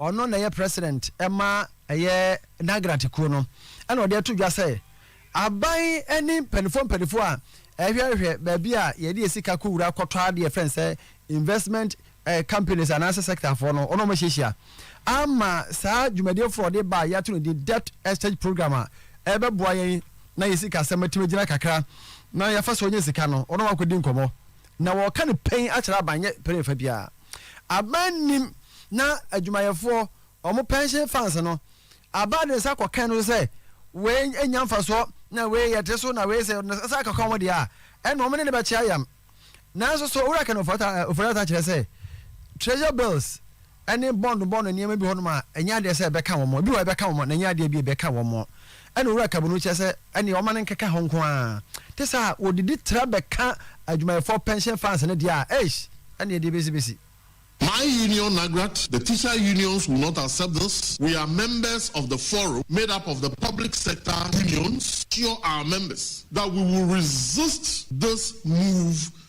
Ɔno na ɛyɛ president ma ɛyɛ Nagrati kuo no ɛna ɔde ato dwa sɛ aban ɛne mpanifoɔ mpanifoɔ a ɛhwɛhwɛ baabi a yɛde yɛ sika kɔ wura kɔtɔ adeɛ ɛfrɛ no sɛ investment eh, companies anaasɛ sector foɔ no ɔno ɔmo hyehyia ama saa dwumadie foɔ ɔde ba a yɛato no din debt exchange program a ɛbɛboa yɛn na yɛ sika asɛm atumi gyina kakra na yɛafa so ɔnyɛ sika no ɔno wakɔdi nkɔmɔ na wɔka no pɛn akyerɛ aban nyɛ pɛn fa biara. Aban nnim na adwumayɛfoɔ, wɔn pension funds no, aban de nsa kɔkɛn no so sɛ wei nnya mfasoɔ na wei yɛte so na wei sɛ wɔde nsa akaka wɔn deɛ a, ɛnna wɔn ne no bɛkye ayam. Nanso so Owura Ken Ofori-Atta kyerɛ sɛ Treasure Bills ne bond bond nneɛma bi hɔnom a ɛnyɛ adeɛ sɛ ɛbɛka wɔn, ebi wɔ hɔ a ɛbɛka wɔn na ɛnyɛ adeɛ bi a ɛbɛka wɔn? Ɛna Owura Kabu no kyerɛ sɛ ɛneɛ ɔma no nkeka hɔ nko ara. Te saa a wɔdidi tra bɛka adwumayɛfoɔ pension funds no deɛ a, eish! Ɛneɛ deɛ ɛbɛsi bɛsi. My union Nagrat, the teacher unions will not accept this, we are members of the forum made up of the public sector unions, assure our members that we will resist this move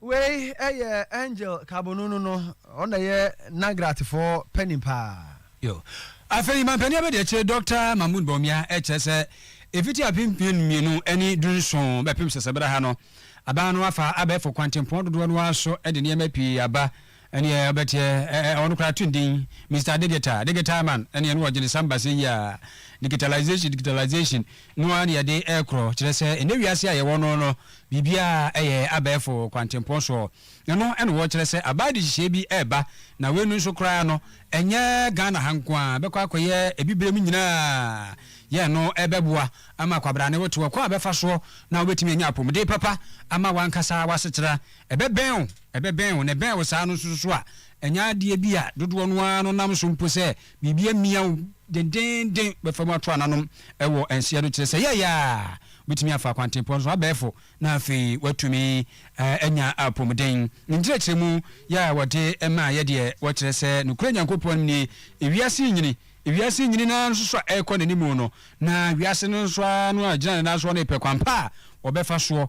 Wei yɛ Angel Kabonunu no, ɔno na ɛyɛ Nagratfoɔ panin paa. Yo. Afei mampanin abadiakyire Doctor Mahmood Bawumia kyerɛ sɛ ɛfiti apem mpem mmienu ne du nson bɛpem sɛsɛberɛ ha no, aban no afa abɛɛfo kwantempɔn dodoɔ no ara so de nneɛma pii aba Ɛneɛ ɔbɛteɛ ɛɛ ɔno koraa to ndin Mister Digital, Digital Man ɛneɛ no ɔgyene samba sɛyi a Digitalisation, Digitalisation no ara na yɛde ɛɛkorɔ kyerɛ sɛ ɛnɛ wiase a yɛwɔ no no biribiara ɛyɛ abɛɛfo kwantempɔn soɔ ɛno na wɔkyerɛ sɛ abaa dehyehyɛɛ bi ɛɛba na wei no nso koraa no ɛnyɛ Ghana ha nko ara bɛkɔ akɔyɛ Abibirem nyinaa yɛn no ɛɛbɛboa ama kwabrane wo te ɔkwan a bɛfa soɔ na wobɛtumi anya apomuden papa ama wankasa wasetera ɛbɛbɛn wo ɛbɛbɛn wo, na ɛbɛn wo saa no nso so a, ɛnyɛ adeɛ bi a dodoɔ no ara no nam so mpo sɛ biribi amia wo dendeenden bɛfa mu ato ananom wɔ nseɛ no kyerɛ sɛ yɛɛyɛ a wobɛtumi afa akwantempɔn no so abɛɛfo na afei woatumi anya apɔmuden. Ne nkyerɛkyerɛmu yɛ a wɔde maa yɛ deɛ wɔkyerɛ sɛ nokorɛ Nyankopɔn nie, ewiase nyini, ewiase nyini no ara nso so a ɛrekɔ n'animu no, na wiase no nso ara no a ɛgyina ne nan soɔ no repɛ kwan pa a wɔbɛfa soɔ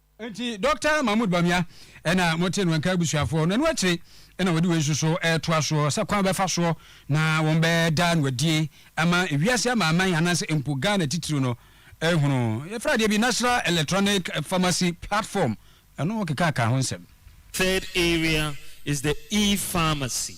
Enti Dɔkta Mahmood Bamia na motee no, Ankaa abusuafoɔ no ɛno akyire na wɔde wei nso so retoa soɔ sɛ kwan bɛfa soɔ na wɔbɛda no adie ama ewiase amanaman anaasɛ mpo Ghana titiriw no ahunu. Yɛfrɛ adeɛ bi National Electronic Pharmacy Platform, ɛno keka ka ho nsɛm. Third area is the E-Pharmacy,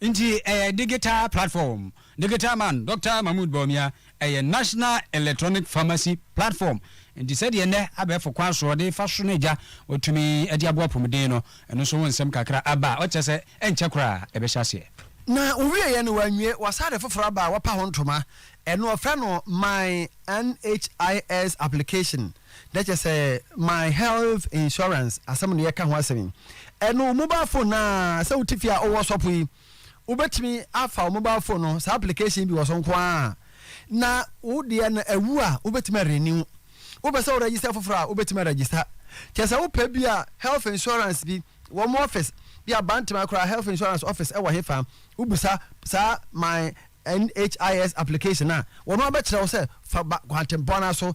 Nti ɛyɛ digital platform. Digital man Dɔkta Mahmood Bawumia, ɛyɛ National Electronic Pharmacy Platform. Nti sɛdeɛ nnɛ abɛɛfo kwan soɔ de fa sono gya wɔtumi de aboa apomuden no, ɛno nso ho nsɛm kakra aba a ɔkyerɛ sɛ ɛnkyɛ koraa ɛbɛhyɛ aseɛ. Na ɔwieeɛ no wanwie, wɔasan de foforɔ aba a wɔapa ho ntoma, ɛno wɔfrɛ no My NHIS Application. na kyerɛ sɛ my health insurance asɛm na yɛka ho asɛm yi. Ɛno wo mobile phone no ara, sɛ wote fie a wowɔ sɔpo yi, wobɛtumi afa wo mobile phone no, saa application bi wɔ so nko ara, na wo deɛ no awu a, wobɛtumi arenew. Wopɛ sɛ wo register foforɔ a, wobɛtumi aregister. Kyerɛ sɛ wopɛ bi a health insurance bi, wɔn office, bi a Bantama koraa health insurance office ɛwɔ hefa, wobisa saa my NHIS application a, wɔn abɛkyerɛ wo sɛ fa ba kwantempɔn no ara so,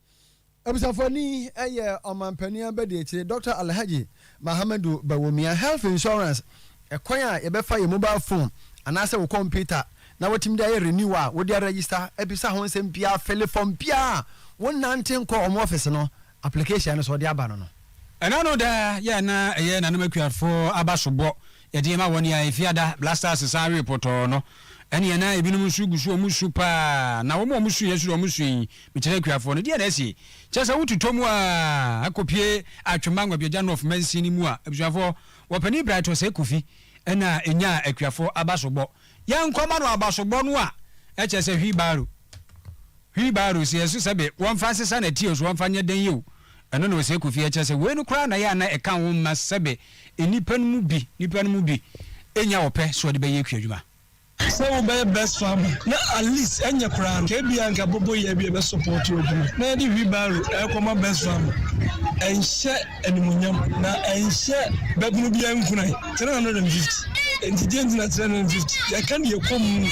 Abusuafoni yɛ Ɔmanpanin Abadiakyire Dɔkta Alhaji Mahamadu Bawumia. Health Insurance, Ɛkwan a yɛbɛfa yɛ mobile phone anaasɛ wo kɔmputa na watumi de ayɛ renew a wode aregister abisa ho nsɛm biara fele form biara a wonnante nkɔ wɔn office no application no so wɔde aba no no. Ɛna no da yɛ a na ɛyɛ Nana Makuarfo aba sobɔ Yɛde ma wɔn a Efiada Blasters san we pɔtɔɔ no. Ɛnneɛ na ebinom nso gu so a wɔresu paa, na wɔn a wɔsuiɛ nso deɛ wɔsui. Mekyerɛ akuafoɔ no, deɛn na asie? Kyerɛ sɛ wototɔ mu ara kɔpue Atwemma Ngwabiagya North mansin no mu a? Abusuafoɔ, Wɔpanin Bright Osei Kofi na ɛnyaa akuafoɔ abasobɔ. Yɛnkɔma no abasobɔ no a, ɛkyerɛ sɛ wheelbarrow, wheelbarrow, sɛ yɛso sɛ be, wɔmfa nsesa n'atiɛ o, so wɔmfa nyɛ dɛn yɛ o, ɛno na Osei Kofi kyerɛ sɛ wei no koraa na ɛyɛ a na ɛka wo mma sɛ be, nnipa no mu bi, nnipa no mu bi nnya ɔpɛ sɛ wɔde bɛyɛ kuadwuma. Sɛ wobɛyɛ bus farmer na at least ɛnyɛ koraa no, ebia anka boboyɛ bi a ɛbɛsɔpɔɔto w'adwuma na yɛde wheelbarrow rekɔma bus farmer. Ɛnhyɛ animuonyam, na ɛnhyɛ babunu biara nkuran. Three hundred and fifty, enti deɛn nti na three hundred and fifty? Yɛka deɛ ɛkɔ mu,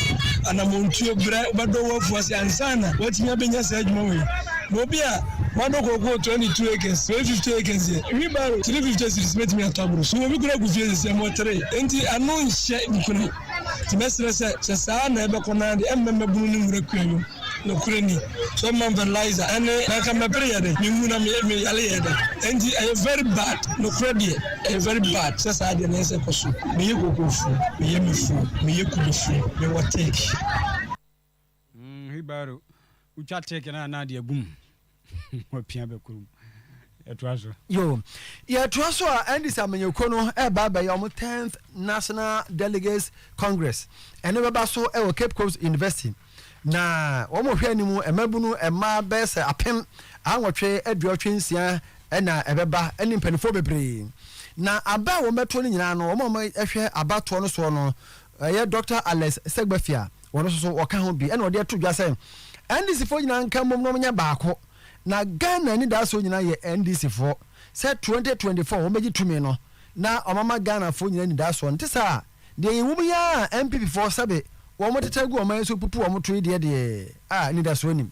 anammɔntuo, berɛ, wobɛdɔ w'afuo ase ansa na woatumi abɛnya saa adwuma wei. Na obi a. Mado kookoo twenty two acres, wei fifty acres deɛ, wheel barrow three fifty cedis mɛtumi atɔ aboro so. Obi kura gu fie sɛsɛ mo three, enti ano nhyɛ nkunim. Nti mɛsrɛ sɛ, sɛ saa na ɛbɛkɔ no ara deɛ, ɛmmɛ mmabunu no nwura kua nwom. Nokorɛ ni, sɛ ɔmma me fertilizer ɛne, na anka mɛpere yɛ dɛn? Mewu na me me yale yɛ dɛn? Enti ɛyɛ very bad, nokorɛ deɛ, ɛyɛ very bad sɛ saa deɛ na ɛsɛ ɛkɔ so. Meyɛ kookoofoɔ, meyɛ mɛfoɔ, meyɛ kubefoɔ, mewɔ teak. Mm wheelbarrow wotwa take na na ade agum wapia bɛkorom yɛtoa so. Yo, yɛtoa so a Andis Amanyɔkuo no ɛreba abɛyɛ wɔn tenth National Delegates Congress ɛno bɛba so ɛwɔ Cape Coast University na wɔn hwɛ anim mmabunu mmaa bɛyɛ sɛ apem anwɔtwe aduɔtwe nsia ɛna ɛbɛba ɛne mpanimfoɔ bebree na aba a wɔn bɛto no nyinaa no wɔn a wɔhwɛ abatoɔ no soɔ no ɛyɛ Doctor Alex Segbafia Wɔn nso so wɔka ho bi ɛna wɔde ato dwa sɛ NDC foɔ nyinaa nka mmom na wɔnyɛ baako na Ghana anidasoɔ nyinaa yɛ NDC foɔ sɛ 2024 wɔn bɛgye tumi no na wɔn ama Ghana foɔ nyinaa anidasoɔ nte saa deɛ yɛ wom yi ara NPP foɔ sɛbe wɔn tete agu wɔn nan so pupu wɔn to yi deɛ deɛ a anidasoɔ nim.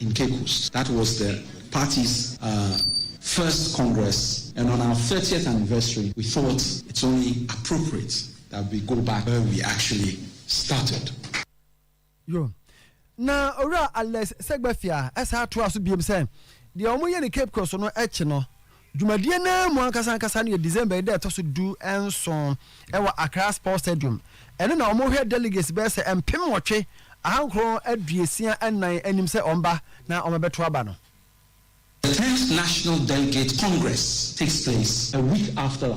in Cape Coast. That was the party's first congress and on our thirtieth anniversary we thought it's only appropriate that we go back where we actually started. Yo. Na Owura Alex Segbefiah san toaa so biom sɛ, deɛ wɔyɛ no Cape Coast no akyi no, Dwumadie no ara mu ankasa ankasa no yɛ December yi da a ɛtɔ so du nson wɔ Accra Sports Stadium. Ɛno na wɔhwɛ delegates bɛyɛ sɛ mpem nwɔtwe, ahankron aduosia nnan anim sɛ wɔba na wɔabɛto aba no. The tenth National Delegate Congress takes place a week after.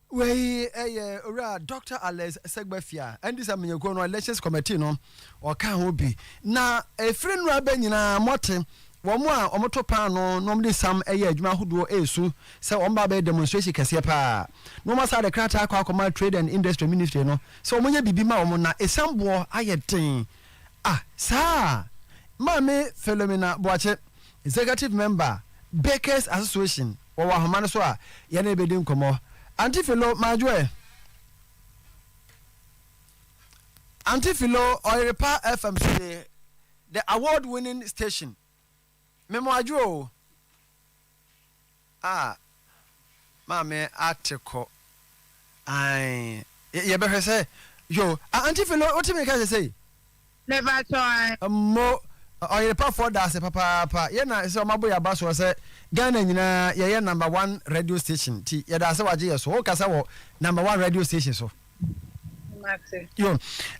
Wei yɛ Owura Dɔkta Alex Segbefia, ɛnde sɛ manyɛ kuo no elections committee no ɔka ho bi. Na ɛfiri nnora bɛ nyinaa mote wɔn a wɔto paano na wɔde sam yɛ adwuma ahodoɔ resu sɛ wɔn ba bɛyɛ demonstration kɛseɛ paa. Na wɔn asaa de krataa akɔ akɔma Trade and Industry Ministry no sɛ wɔnyɛ biribi ma wɔn na ɛsiam boɔ ayɛ den. Ah saa a Maame Philomena Boakye, Executive Member, Bakers Association. wɔwɔ ahoma no so a, yɛne no bedi nkɔmmɔ. Aunty Philo, Madwoe. Aunty Philo, ɔyere pa FM so nie, the award winning station. Me mo adwoe o. Ah, maame ate kɔ. Ae, yɛbɛhwɛ sɛ, yo, Aunty Philo, wote me nka sesei? Mepakyɛw ae. Mmo ɔyerepafoɔ da ase papaapa yɛ na sɛ ɔmabo yɛ aba soɔ sɛ Ghana nyinaa yɛ yɛ number one radio station nti yɛda ase wagye yɛ so wo kasa wɔ number one radio station so. Mate. Yo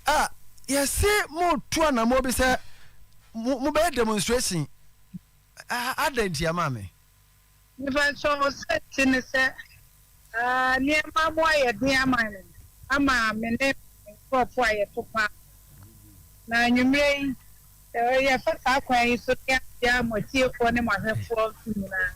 ah yɛse mo tu anamɔ bi sɛ mo bɛyɛ demonstration ah adɛn ntia maame. Mepakyɛw, sɛ ɛte ne sɛ aa, nneɛma mu ayɛ den ama me, ama me ne me nkurɔfo a yɛto paa. Na anwummere yi, yɛfa saa kwan yi so de akyia mo atiefoɔ ne mo ahwɛfoɔ nso nyinaa.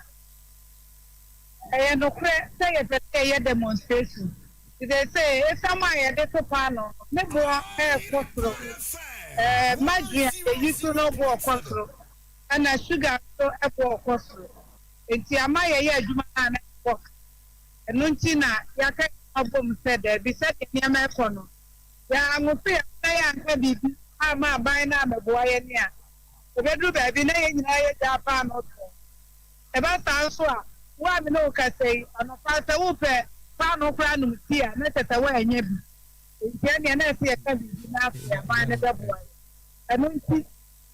Ɛyɛ nokorɛ sɛ yɛpɛ sɛ yɛyɛ demonstration, nti seesei esiam a yɛde to paanoo no, ne boɔ rekɔ soro. Ɛɛ, margarine a yɛyi so no boɔ kɔ soro. na sugar nso bɔɔ kɔ soro. Enti ama yɛyɛ adwuma no a na yɛbɔ ka. Ɛno nti na yɛaka yɛn ho abom sɛ dabi, sɛdeɛ nneɛma rekɔ no, yɛanwoso yɛn ho na yɛanka biribi amma aban no ammɛboa yɛn a, ɛbɛduru baabi na yɛn nyinaa yɛagyaa paanoo toɔ. Ɛba saa nso a, wo a me ne wo kasa yi, anɔpa sɛ worepɛ paanoo koraa nom tea a, na kyerɛ sɛ woannya bi. Enti ɛnneɛ na ɛsɛ yɛka biribi na afei aban no bɛboa yɛn. Ɛno nti.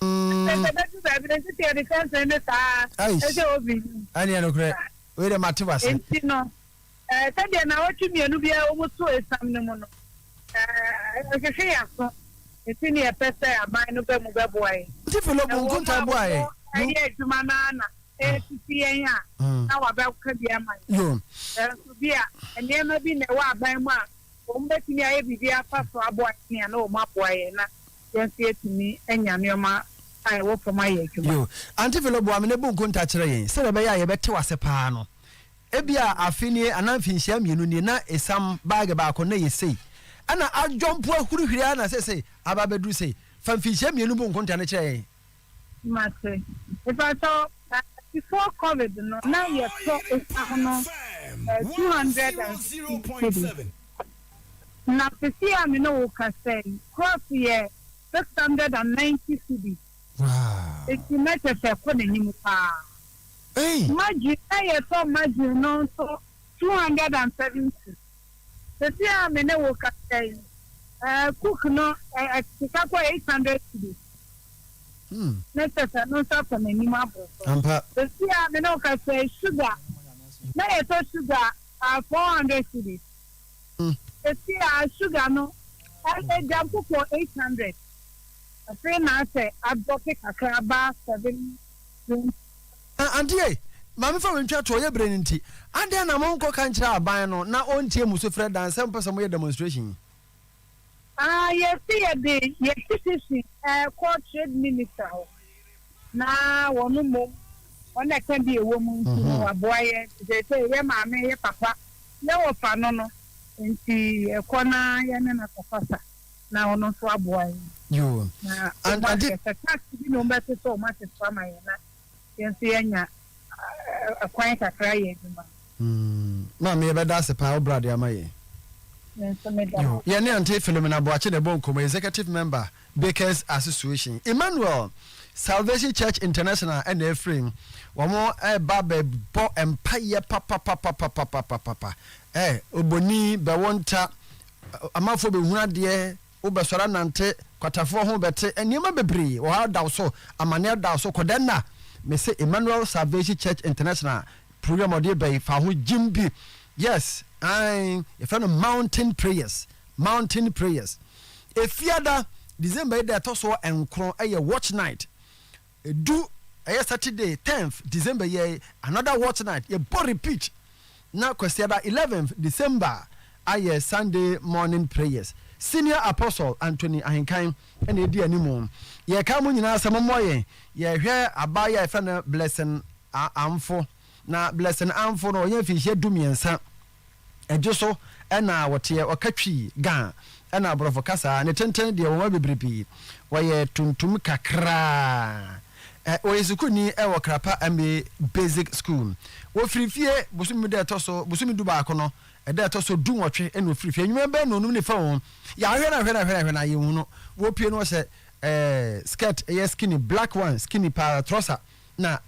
Ɛsɛ sɛ bɛdu baabi no nti sɛ yɛde kyɛnsee ne saa a, ɛsɛ sɛ obi yi. Ɛneɛ nokorɛ, wei deɛ mate w'ase. Nti no, ɛɛ sɛdeɛ nnawɔtwe mmienu biara a wɔto esiam no mu no, ɛɛ ɛhwehwe yɛn aso. Nti na yɛpɛ sɛ aban no ba mu bɛboa yɛn. Tiffy Lobo nkontaa boaa yɛn. Ɛwɔ mu a wɔyɛ adwuma no ara na ɛresisi yɛn a, na wɔabɛka bi ama yɛn. Nanso bi a, nneɛma bi na ɛwɔ aban mu a wɔbɛtumi ayɛ biribi afa so aboa yɛn a, na wɔaboa yɛn. Na. yɛn nso yɛatumi anya nneɛma a ɛwɔ fam ayɛ adwuma. Yo, Auntie Philo boa me na bu nkonta kyerɛ yɛn sɛdeɛ ɛbɛyɛ a yɛbɛte wo ase paa no. Ebia afe nie anaa mfinhyia mmienu nie na esiam baage baako na ɛyɛ sei. Ɛna adwɔmpo ahurihuri ara na seesei aba abɛduru sei. Fa mfinhyia mmienu bu nkonta no kyerɛ yɛn. Mate. Mepakyɛ wo, na before covid no na yɛtɔ esiam no eh, two hundred and fifty cedis. Na sesei a me ne wo kasa yi, cross yɛ six hundred and ninety cedis. Enti na kyerɛ sɛ ɛkɔ n'anim paa. Margarine, na yɛtɔ margarine no nso two hundred and seventy. Sesei a me ne wo kasa yi, cook no akeka kɔ eight hundred cedis. Ne kyɛ sɛ ɛno nso asɔ n'anim aboro so. Sesei a me ne wo kasa yi, sugar, na yɛtɔ sugar four hundred cedis. Sesei a sugar no agya kɔ eight hundred. Afei na asɛ adrɔpe kakra aba seven. Eh, Auntie ei, ma memfa wei ntwa to, ɔyɛ bere no nti. Adɛn na monkɔka nkyerɛ aban no na ɔntie mo sufrɛ dan sɛ mopɛ sɛ moyɛ demonstration yi? Ah, yɛse yɛde yɛn petition rekɔ Trade Minister hɔ na wɔn mmom wɔn na ɛka bi ɛwɔ mu nti no waboa yɛn. Nti seesei yɛn maame, yɛn papa, yɛn wɔfa no no nti yɛkɔ na yɛne no akɔkasa. na ɔno nso aboa yɛn. Yoo. Na wɔn ahwɛ sɛ tax bi na wɔn bɛto sɛ wɔn ate so ama yɛn na yɛn nso yɛanya ɛkwan kakra ayɛ adwuma. Hmm. Maame yɛbɛda ase paa wo brade ama yɛn. Me nso meda ase. Yoo. Yɛne Aunty Philomena Boakye na ɛbɔ nkɔmmɔ, Executive Member, Bakers Association. Emmanuel Salvation Church International ɛna ɛfiri. Wɔn ɛreba bɛbɔ mpaeɛ papapapapapapapa. Ɛ, Oboni, Bɛwonta, Amanfoɔ bɛhunu adeɛ, wobɛsɔre anante, kwatafoɔ ho bɛte, nneɛma bebree wɔ hɔ a da wo so, amaneɛ da wo so, kɔda nna. Mese Emmanuel Salvation Church International program a wɔde reba yi, fa ho gyim bi. Yes, ae, yɛfrɛ no Mountain Prayers, Mountain Prayers. Efiada, December yi da a ɛtɔ so nkron yɛ Watch Night. Edu ɛyɛ Saturday tenth December yi ɛyɛ another watch night yɛ bɔ repeat na Kwasiada eleventh December ayɛ Sunday morning prayers. Senior Apostle Anthony Ahenkan na edi anim. Yɛreka mo nyinaa sɛ mommɔ yɛn. Yɛrehwɛ abaa yi a yɛfrɛ no Blessing Amfo na Blessing Amfo no ɔyɛ mfinhyia du mmiɛnsa. Ɛgye so na wɔteɛ, wɔka twi, ga, ɛna aborɔfo kasa ne tenten deɛ wɔn mu bebrebe wɔyɛ tuntum kakraa. Ɔyɛ sukuuni wɔ Krapa MA Basic School. Wɔfiri fie bosome mu da ɛtɔ so bosome du baako no, ɛda ɛtɔ so du nwɔtwe na ɔfiri fie. Anwummerɛ bɛyɛ nnɔnum ne fa o, yɛahwɛ no ahwɛ no ahwɛ no ahwɛ no a yɛnhu no. Wɔpue no wɔhyɛ eh, skirt, ɛyɛ skinny, black one, skinny paa, trɔsa. na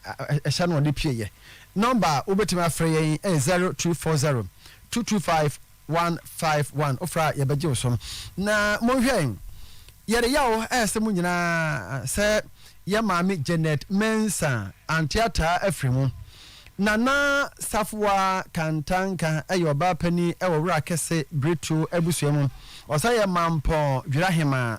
ɛhyɛ no ɔde pieeɛ. Nɔmba a wobɛtumi afrɛ yɛn yɛ 0340 225 151. Wofrɛ a yɛbɛgye wo so. Na monhwɛ, yɛreyɛ o, ɛsɛ mo nyinaa sɛ yɛ maame Janet Mensah ante ataa afiri mu. Nana Safoa Kantanka yɛ ɔbaa panin wɔ Wura Kɛse Biretuo abusua mu. Ɔsan yɛ Mampɔn Dwirahemaa.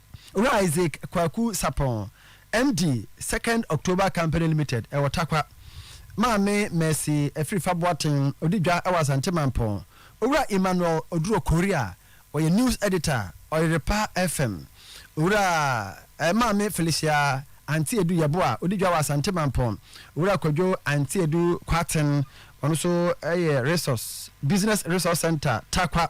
Owura Isaac Kwaku Sapong, MD, Second October Company Limited, ɛwɔ Tarkwa, Maame Mercy Afirifa Boateng, ɔdi dwa wɔ Asante Mampong, Owura Emmanuel Oduro Korea, ɔyɛ News Editor, Ɔyerepa FM, Owura eh, Maame Felicia Antiedu Yeboah, ɔdi dwa wɔ Asante Mampong, Owura Kwadwo Antiedu Kwaten, ɔno nso yɛ Resource, Business Resource Centre, Tarkwa,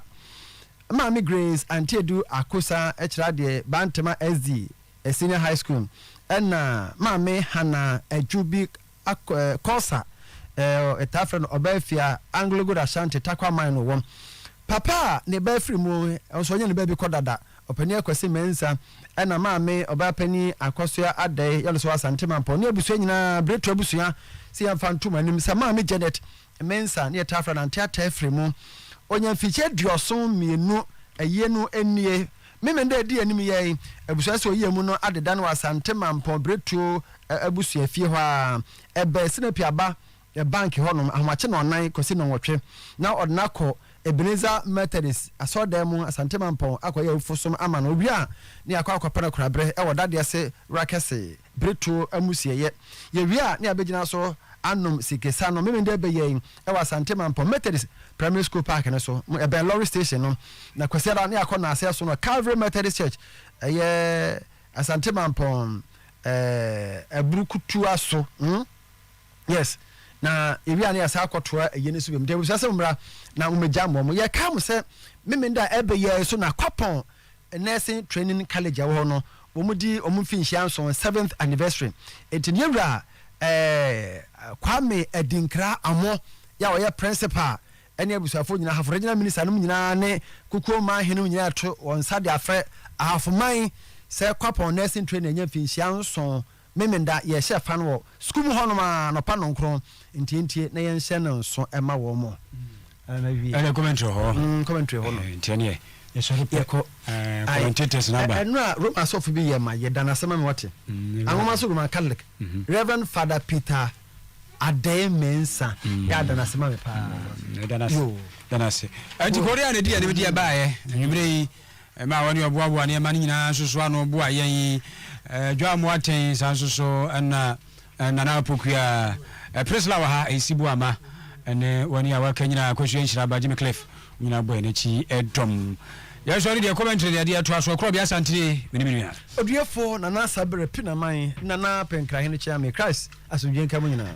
Maame Grace Antiedu Akosa kyerɛ adeɛ Bantama SD Senior High School mu ɛna Maame Hannah Adjubi Korsah yɛtaa frɛ no Ɔbaafia Anglo Gold Ashanti Tarkwa Mine no wɔ. Papa a ne ba firi mu nso ɔnyɛ ne baabi kɔ dada Ɔpanin Akwasi Mensah ɛna Maame Ɔbaapanin Akwasoa Adei yɛ no nso wɔ Asante Mampɔn ne abusua nyinaa Biretu abusua sɛ yɛmfa ntom anim sɛ Maame Janet Mensah ne yɛtaa frɛ no Ante Ataa Afiri mu. Ɔnya mfikyia aduɔson mmienu ayie no nnie. Memen dɛ ɛdi anim yɛ yi, abusua sɛ ɔyie mu no adeda no wɔ Asante Mampɔn Biretuo abusua fie hɔ a ɛbɛn Sinapi Aba Bank hɔ nom, ahomakye nnɔnnan kɔsi nnɔnwɔtwe. Na ɔde no akɔ Ebenezer Methodist asɔredan mu Asante Mampɔn akɔyɛ awufosom ama no. Ɔwie a, ne yɛakɔ akɔpɛ no koraberɛ wɔ Dadeɛse Wura Kɛse. Bere to amusieyɛ. Yewie a, ne yɛabegyina so anom sikesa no. Memenda bɛ yɛn wɔ Asante Mampɔn Methodist Primary School Park no so. Ɛbɛn lɔre station no. Na Kwasiada, ne yɛakɔ nnansa ason wɔ Calvary Methodist Church, ɛyɛ Asante Mampɔn eh, Aburukutua so. Hmm? Yes. Na yɛwie a, ne yɛsan akɔtoa ayie no so biom. Nti abusua sɛ mommra na mommegya mmɔ mo. Yɛkae mo sɛ Memenda ɛbɛ yɛn so na Kwapɔn Nursing training college a ɛwɔ hɔ no wɔn di wɔn mfinhyia nson seventh anniversary nti ne wura ɛɛ Kwame Adinkra Amoh yɛ a ɔyɛ principal ɛne abusuafoɔ nyinaa ahafo regional minister nom nyinaa ne kukuo man henom nyinaa ɛto wɔn nsa de afrɛ ahafo man sɛ kwapɔn nursing training ɛnyɛ mfinhyia nson Memenda, yɛhyɛ fa no wɔ sukuu mu hɔnom ara anɔpa nnɔnkron ntiantia na yɛnhyɛ no nso ma wɔn ara na awie. Ɛne Coventry hɔ. Mm, Coventry hɔ no. Nti ɛneɛ yɛsɔre pɛ. Yɛkɔ. Eh, commentators na ba. Ɛno a Roma asɔfo bi yɛ ma yɛda no ase ma me wɔte. Mm, Anwoma so Roman Catholic. Mm -hmm. Reverend Father Peter Adey Mensah. Mm. Yɛ ada no ase ma me paa. Mm, da no ase. Da no ase. Ɛnti Korea na ɛdi yɛn de bi di ɛbaeɛ. Anwummerɛ yi. Ɛma wɔn a wɔboaboa nneɛma no nyinaa nso so ano boa yɛn. Dwammo atɛn, saa nso so na Nana Apokua, Priscilla wɔ ha, Esi Boama ne wɔn a wɔaka nyinaa, Akosua Nhyiraba, Jimmy Cliff, wɔn nyinaa bɔ yɛn akyi dɔm. Yɛn sɔre deɛ Coventry deɛ deɛ ɛtoa so, Akorɔbea Asantire, me ne me nua. Odiefo Nana Asabere Pinaman, Nana Pɛnkrahene Kyeame, Christ asomdwoe nka mo nyinaa.